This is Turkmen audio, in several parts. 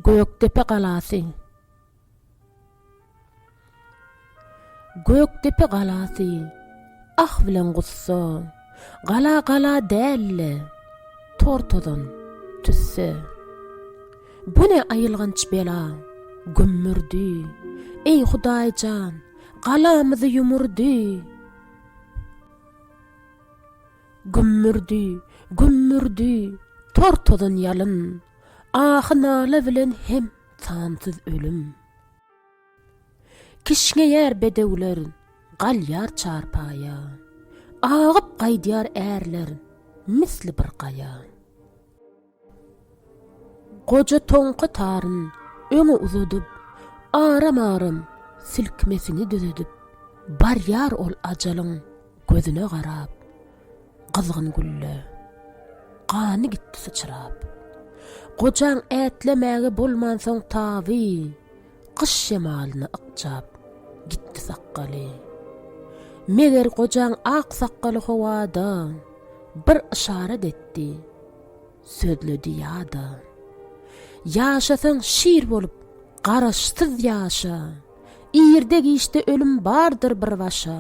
Gökdepe galasy Gökdepe galasy Ah bilen gussa Gala gala dälle Tortozan tüsse Bu ne ayylganç bela Gümmürdi Ey hudaycan Galamyzy yumurdi Gümmürdi, gümmürdi, tor tozan ýalyn, Ahy-nala bilen hem sansyz ölüm. Kişňeýär bedewler, galýar çarpaýa, Agyp gaýdýar ärler misli bir gaýa. Goja toňky taryn öňe uzadyp, aram-aram silkmesini düzedip, barýar ol ajalyň gözüne garap, Gyzgyn gülle, gany gitdi syçrap. Gojaň ätlemäge bolmansoň taby, Gyş şemalyna ykjap, gitdi sakgaly. Meger gojaň ak sakgaly howada bir yşarat etdi. sözledi ýa-da, Ýaşasaň şir bolup, garaşsyz ýaşa, Irde-giçde ölüm bardyr bir başa,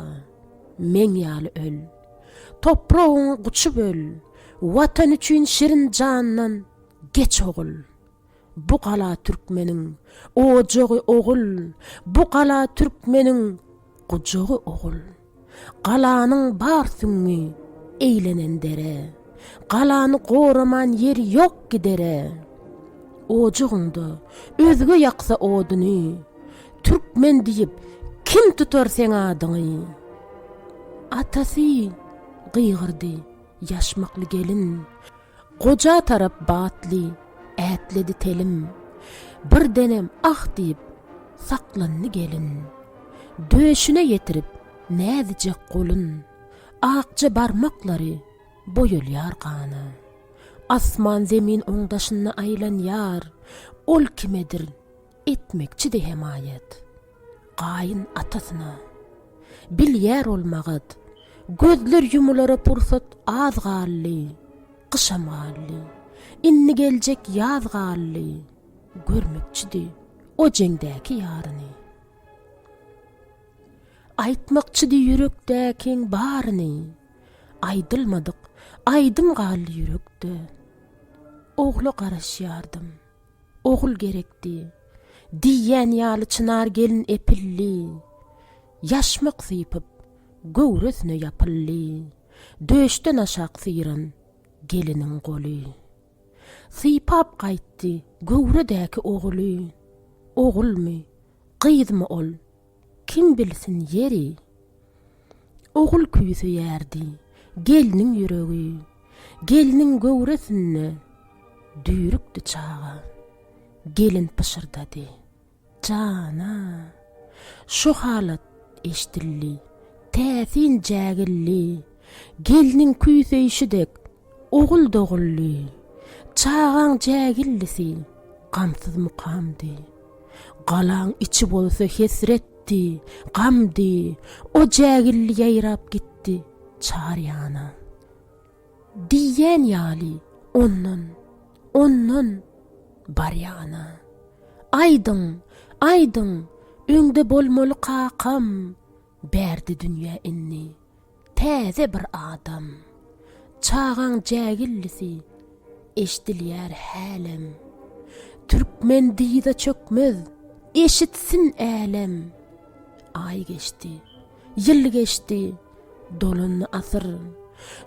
Meň ýaly öl, topragyňy guçup öl, Watan üçin şirin jandan geç ogul. Bu gala türkmeniň ojagy ogul, Bu gala türkmeniň gujagy ogul. Galanyň bar süňňi, eýlenen dere, Galany goraman ýeri ýok gidere. Ojagyňda özge ýaksa oduny, Türkmen diýip, kim tutar seň adyňy? Atasy! gygyrdy ýaşmakly gelin. Goja tarap batly ätledi telim. Birdenem ah diýip, saklandy gelin. Döşüne ýetirip näzijek golun. Akja barmaklary boýalýar gana. Asman-zemin oň daşynda aýlanýar. Ol kimedir. Etmekçi-de hemaýat. Gaýyn atasyna. Bilýär ol magat. Gözler ýumulara pursat az galdy. Gyşam galdy. Indi geljek ýaz galdy. Görmekçi-de o jeňdäki ýaryny. Aýtmakçy-de ýürekdäkiň baryny. Aýdylmadyk aýdym galdy ýürekde. Ogla garaşýardym. Ogul gerekdi. Diýýän ýaly çynar gelin epilli, Ýaşmak sypyp, göwresine ýapyldy. Döşden aşak syran geliniň goly. Sypap gaýtdy göwredäki oguly. Ogulmy, gyzmy ol Kim bilsin ýeri. Ogul küýi söýerdi. Gelniň ýüregi. Gelniň göwresinde düýrükdi çaga. Gelin pyşyrdady. Jana. Şu halat eşdildi. Täsin jägildi. Gelniň küýi söýşi dek. Ogul doguldy. Çagaň jägildisi gamsyz mukamdy. Galaň içi bolsa hesretdi, gamdy. O jägildi ýaýrap gitdi çar ýana. Diýýän ýaly ondan, ondan barýana. Aýdyň, aýdyň, öňde bolmaly kakam, bärde dünýä indi. Täze bir adam. Çagaň jägillisi eşdilýär hälem. Türkmen dyza çökmez, eşitsin älem. Aý geçdi, ýyl geçdi, dolandy asyr.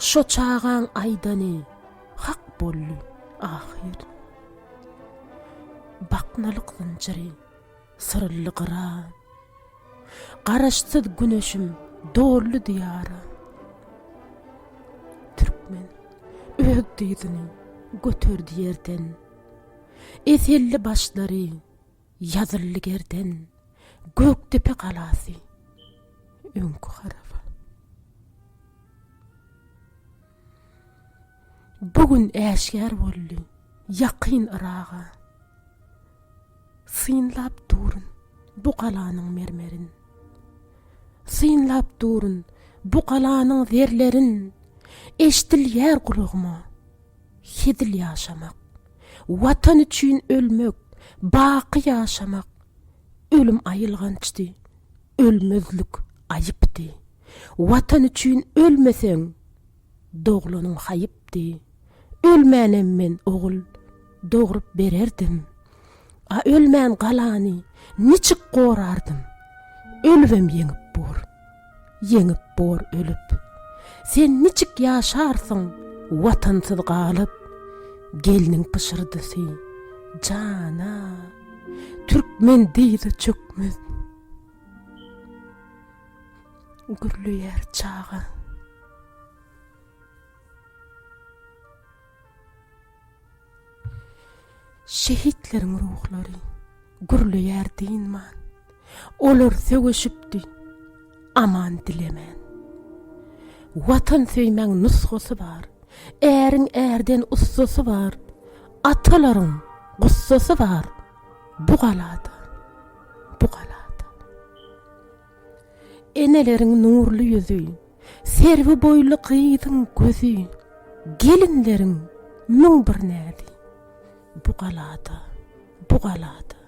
Şo çagaň aýdany hak boldy ahyr. Baknalyk zynjyry Syrly gyra, Garaşsyz güneşim doldy Diýara. Türkmen öz dyzyny göterdi ýerden, Eselli başlary ýazyldy gerden, Gökdepe galasy öňki haraba. Bu gün äşgär boldy ýakyn Yraga. Synlap durun bu galanyň mermerin. Synlap durun bu galanyň zerlerin. Eşdilýär gulagyma hezil ýaşamak. Watan üçin ölmek, baky ýaşamak. Ölüm aýylgançdy, ölmezlik aýypdy. Watan üçin ölmeseň, doglanyň haýypdy. Ölmänem men ogul dogrup bererdim. A ölmän galany niçik gorardym? Ölübem ýeňip bor. Ýeňip bor ölüp. Sen niçik ýaşarsyň watansyz galyp? Gelniň pyşyrdysy, Jan-a, türkmen dyza çökmez. gürleýär çaga. Şehitleriň ruhlary gürleýär dynman. Olar söweşipdi aman dilemän. Watan söýmäň nusgasy bar. Äriň ärden ussasy bar. Atalaryň gussasy bar. Bu galada, bu galada. Eneleriň nurly ýüzi, Serwi boýly gyzyň gözi, Gelinleriň müň bir näzi, Bu galada, bu galada.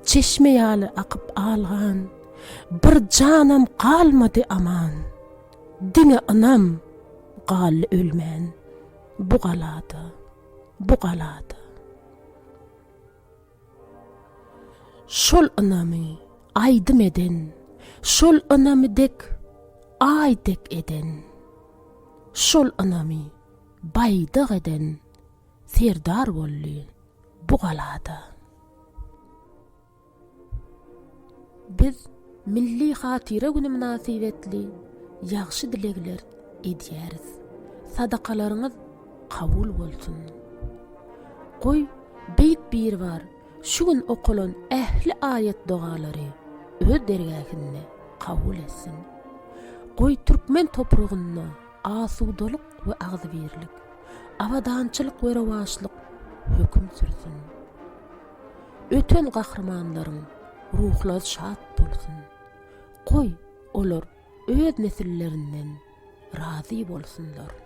Çeşme ýaly akyp algan, Bir janam galmady aman, Diňe ynam galdy ölmän, Bu galada, bu galada. Şol ynamy aýdym eden, Şol ynamy dek Aý dek eden, Şol ynamy baýdak eden Serdar boldy bu galada. Biz Milli hatyra güni mynasybetli ýagşy dilegler edýäris. Sadakalaryňyz kabul bolsun. Goý, Beýik Biribar şu gün okalan ähli aýat-dogalary Öz dergähinde kabul etsin. Goý, türkmen topragynda asudalyk we agzybirlik, abadançylyk we rowaçlyk höküm sürsün. Öten gahrymanlaryň ruhlary şat bolsun! Goý, olar öz nesillerinden razy bolsunlar!